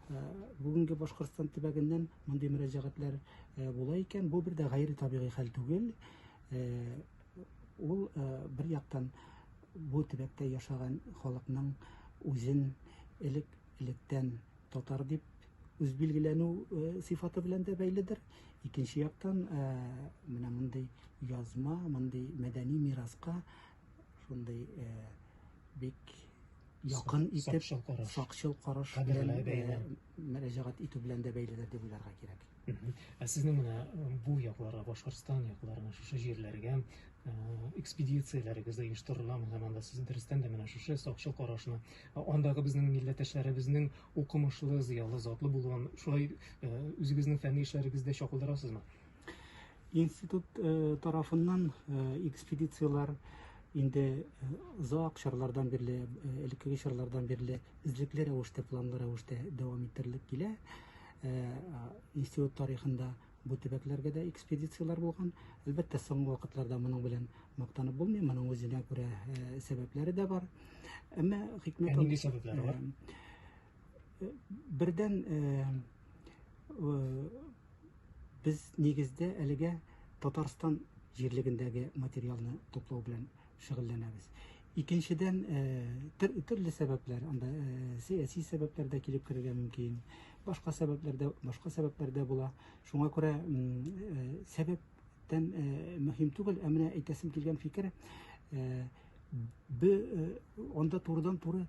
Э, бүгенге башкортстан төбәгеннән мондый мөрәҗәгатьләр э, була икән бу бер дә гайре табигый хәл түгел э, ул бер яктан бу төбәктә яшаган халыкның үзен элек электән татар дип үз билгеләнү сыйфаты белән дә бәйледер икенче яктан менә мондый язма мондый мәдәни мираска шундый э, бик якын итеп сакчыл караш, сакчыл караш белән э, мөрәҗәгать итү белән дә бәйледер дип уйларга кирәк. Ә сезнең менә э, бу якларга, Башкортстан якларына, шушы җирләргә э, экспедицияләрегез дә оештырыламы? Һәм анда сез дөрестән дә менә шушы сакчыл карашны, андагы безнең милләттәшләребезнең укымышлы, зыялы, затлы булуын, шулай үзегезнең фәнни эшләрегездә чакылдырасызмы? Институт э, тарафыннан э, экспедицияләр инде э, озак чорлардан бирле, элеккеге чорлардан бирле эзлекле рәвештә, планлы рәвештә дәвам иттерелеп килә. Институт тарихында бу төбәкләргә дә экспедицияләр булган. Әлбәттә, соңгы вакытларда моның белән мактанып булмый, моның үзенә күрә сәбәпләре дә бар. Әмма хикмәт нинди сәбәпләре бар? Бердән без нигездә әлегә Татарстан җирлегендәге материалны туплау белән шөгыльләнәбез. Икенчедән, төрле сәбәпләр, анда сәяси сәбәпләр дә килеп керергә мөмкин, башка сәбәпләр дә, башка сәбәпләр дә була. Шуңа күрә сәбәп тән мөһим түгел, ә менә әйтәсем килгән фикер, бе анда турыдан-туры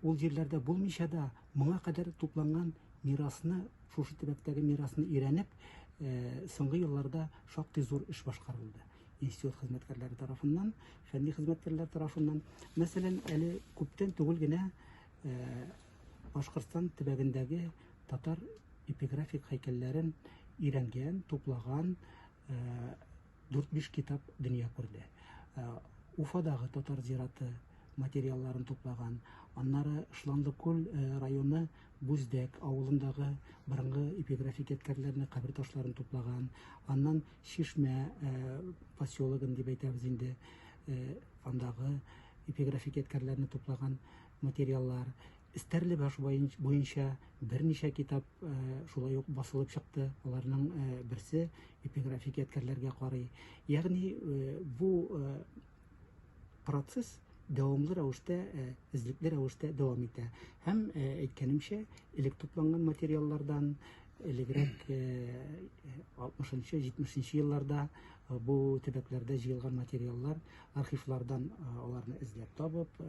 Ул җирләрдә булмыйча да, моңа кадәр тупланган мирасны, шушы төбәктәге мирасны өйрәнеп, соңгы елларда шактый зур эш башкарылды. Институт хезмәткәрләре тарафыннан, фәнни хезмәткәрләр тарафыннан. Мәсәлән, әле күптән түгел генә Башкортстан төбәгендәге татар эпиграфик һәйкәлләрен өйрәнгән, туплаган, Дүрт-биш китап дөнья күрде. Уфадагы татар зираты материалларын туплаган, аннары Шланлыкүл районы Бүздәк авылындагы борынгы эпиграфик ядкәрләрне, кабер ташларын туплаган, аннан Чишмә поселогын дип әйтәбез инде, андагы эпиграфик ядкәрләрне туплаган. материаллар, Стәрлебаш буенча берничә китап э, шулай ук басылып чыкты. Аларның э, берсе эпиграфик ядкәрләргә карый. Ягъни э, бу процесс дәвамлы рәвештә, эзлекле рәвештә дәвам итә. Һәм әйткәнемчә, элек тупланган материаллардан элегрәк 60-70 елларда бу төбәкләрдә җыелган материаллар архивлардан аларны эзләп табып,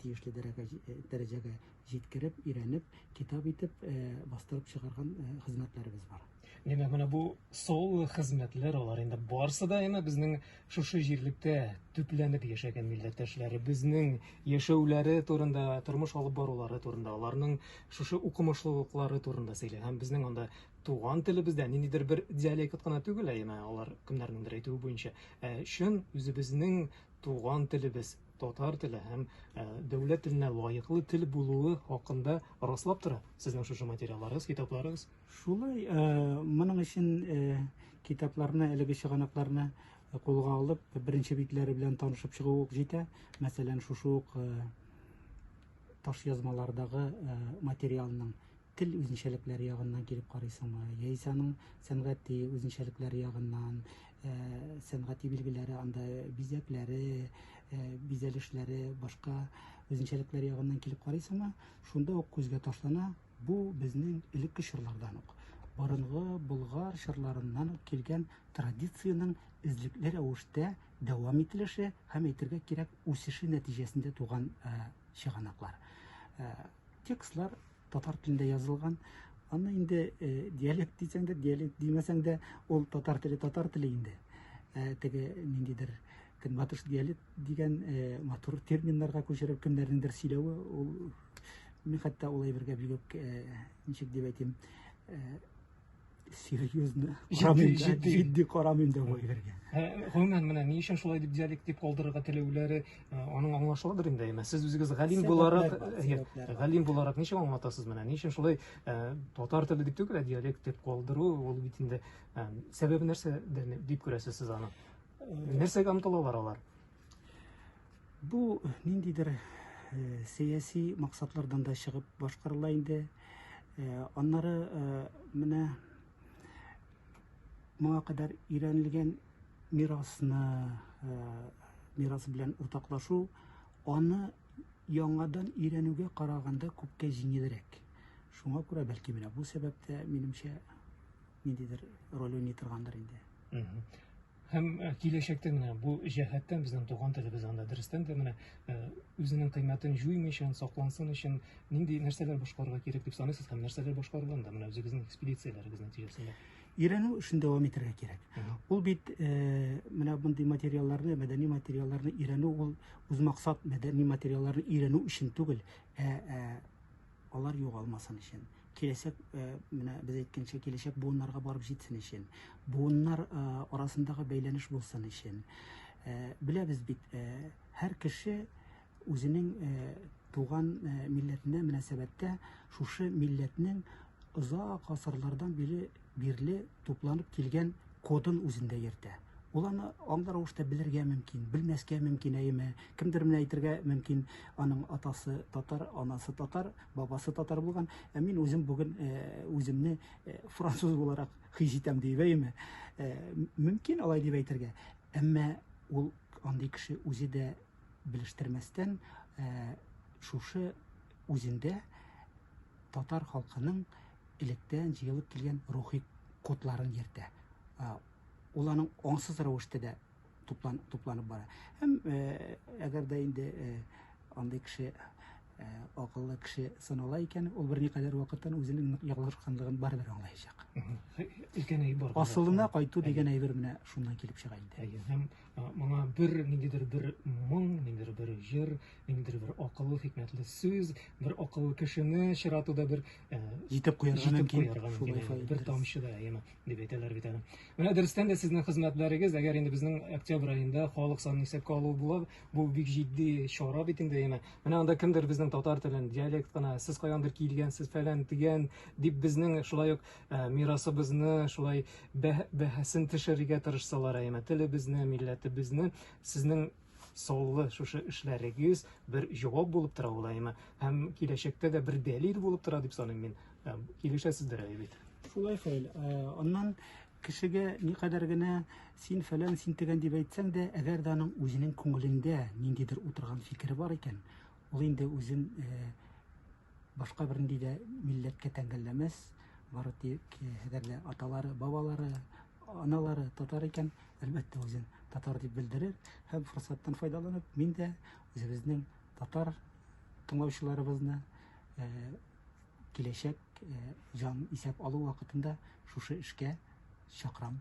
тиешле дәрәҗәгә җиткереп, өйрәнеп, китап итеп бастырып чыгарган хезмәтләребез бар. Димәк, менә бу соул хезмәтләр алар инде барсы да әмә безнең шушы җирлектә төпләнеп яшәгән милләттәшләребезнең яшәүләре турында, тормыш алып барулары турында, аларның шушы укымышлылыклары турында сөйли һәм безнең анда туган телебездә, ниндидер бер диалект кына түгел, ә яна алар кемнәрнеңдер әйтүе буенча, ә чын үзебезнең туган телебез, татар теле һәм ә, дәүләт теленә лаеклы тел булуы хакында раслап тора сезнең шушы материалларыгыз, китапларыгыз. Шулай, ә, моның өчен ә, китапларны, әлеге чыганакларны кулга алып, беренче битләре белән танышып чыгу ук җитә. Мәсәлән, шушы ук ә, таш язмалардагы ә, материалның тел үзенчәлекләре ягыннан килеп карыйсыңмы, яисә аның сәнгати үзенчәлекләре ягыннан, сәнгати билгеләре, анда бизәкләре, бизәлешләре, башка үзенчәлекләре ягыннан килеп карыйсыңмы, шунда ук күзгә ташлана, бу безнең элекке чорлардан ук, борынгы болгар чорларыннан ук килгән традициянең эзлекле рәвештә дәвам ителеше һәм әйтергә кирәк үсеше нәтиҗәсендә туган чыганаклар. Текстлар татар телендә язылган. Аны инде э, диалект дисәң дә, диалект димәсәң дә, ул татар теле, татар теле инде. Ә э, теге ниндидер көнбатыш диалект дигән э, матур терминнарга күчереп кемнәрнеңдер сөйләве, ул мин хәтта ул әйбергә бигүк ничек дип әйтим, серьезно җитди җитди җитди карамыйм да бу әйбергә гомумән менә ни өчен шулай дип диалект дип калдырырга теләүләре аның аңлашылыдыр инде әмма сез үзегез галим буларак галим буларак ничек аңлатасыз менә ни өчен шулай татар теле дип түгел ә диалект дип калдыру ул бит инде сәбәбе нәрсә дип күрәсез сез аны нәрсәгә омтылалар алар Бу ниндидер э, сәяси максатлардан да чыгып башкарыла инде. Э, аннары э, менә моңа кадәр өйрәнелгән мирасны мирас белән уртаклашу, аны яңадан өйрәнүгә караганда күпкә җиңелрәк. Шуңа күрә бәлки менә бу сәбәптә минемчә ниндидер роль уйный торгандыр инде. Һәм э, киләчәктә менә бу җәһәттән безнең туган телебез анда дөрестән дә менә э, үзенең кыйммәтен җуймыйча, саклансын өчен нинди нәрсәләр башкарырга кирәк дип саныйсыз һәм нәрсәләр башкарылган да менә үзегезнең экспедицияләрегез нәтиҗәсендә? Өйрәнү эшен дәвам итәргә кирәк. Ул бит э, менә мондый материалларны, мәдәни материалларны өйрәнү ул үз максат мәдәни материалларны өйрәнү өчен түгел, ә, ә алар югалмасын өчен, киләчәк, менә без әйткәнчә, киләчәк буыннарга барып җитсен өчен, буыннар арасындагы бәйләнеш булсын өчен. Беләбез бит, һәр кеше үзенең туган милләтенә мөнәсәбәттә шушы милләтнең озак гасырлардан бирле бирле тупланып килгән кодын үзендә йөртә. Ул аны аңлы рәвештә белергә мөмкин, белмәскә мөмкин, әйеме. Кемдер менә әйтергә мөмкин, аның атасы татар, анасы татар, бабасы татар булган, ә мин үзем бүген үземне француз буларак хис итәм диеп, әйеме. Мөмкин алай дип әйтергә. Әмма ул андый кеше үзе дә белештермәстән шушы үзендә татар халкының электән җыелып килгән рухи кодларын йөртә. Ул аның аңсыз рәвештә дә туплан, тупланып бара. Һәм әгәр дә инде андый кеше акыллы кеше санала икән, ул бер никадәр вакыттан үзенең ялгышканлыгын барыбер аңлаячак. Икән әй бар. Асылына кайту дигән әйбер менә шуннан килеп чыга инде. Әйе, һәм Моңа бер ниндидер бер моң, ниндидер бер җыр, ниндидер бер акыллы хикмәтле сүз, бер акыллы кешене чиратуда бер э, җитеп куярга мөмкин. Бер тамчы да яме дип әйтәләр бит әле. Менә дөрестән дә сезнең хезмәтләрегез, әгәр инде безнең октябрь аенда халык санын исәпкә алу була, бу бик җитди чара бит инде яме. Менә анда кемдер безнең татар телен диалект кына, сез каяндыр килгәнсез, фәлән дигән дип безнең шулай ук Ә, мирасыбызны шулай бәһәсен төшерергә тырышсалар, әйме, телебезне, милләтебезне, сезнең соллы шушы эшләрегез бер җавап булып тора ул, әйме, һәм киләчәктә дә бер дәлил булып тора дип саныйм мин. Ә, килешәсездер әле бит. Шулай хәл. Ә, аннан кешегә никадәр генә син фәлән, син тегән дип әйтсәң дә, әгәр дә аның үзенең күңелендә ниндидер утырган фикере бар икән, Ул инде үзен башка бернинди дә милләткә тәңгәлләмәс, бары тик әгәр дә аталары, бабалары, аналары татар икән, әлбәттә үзен татар дип белдерер һәм форсаттан файдаланып, мин дә үзебезнең татар тыңлаучыларыбызны киләчәк җан исәп алу вакытында шушы эшкә чакырам.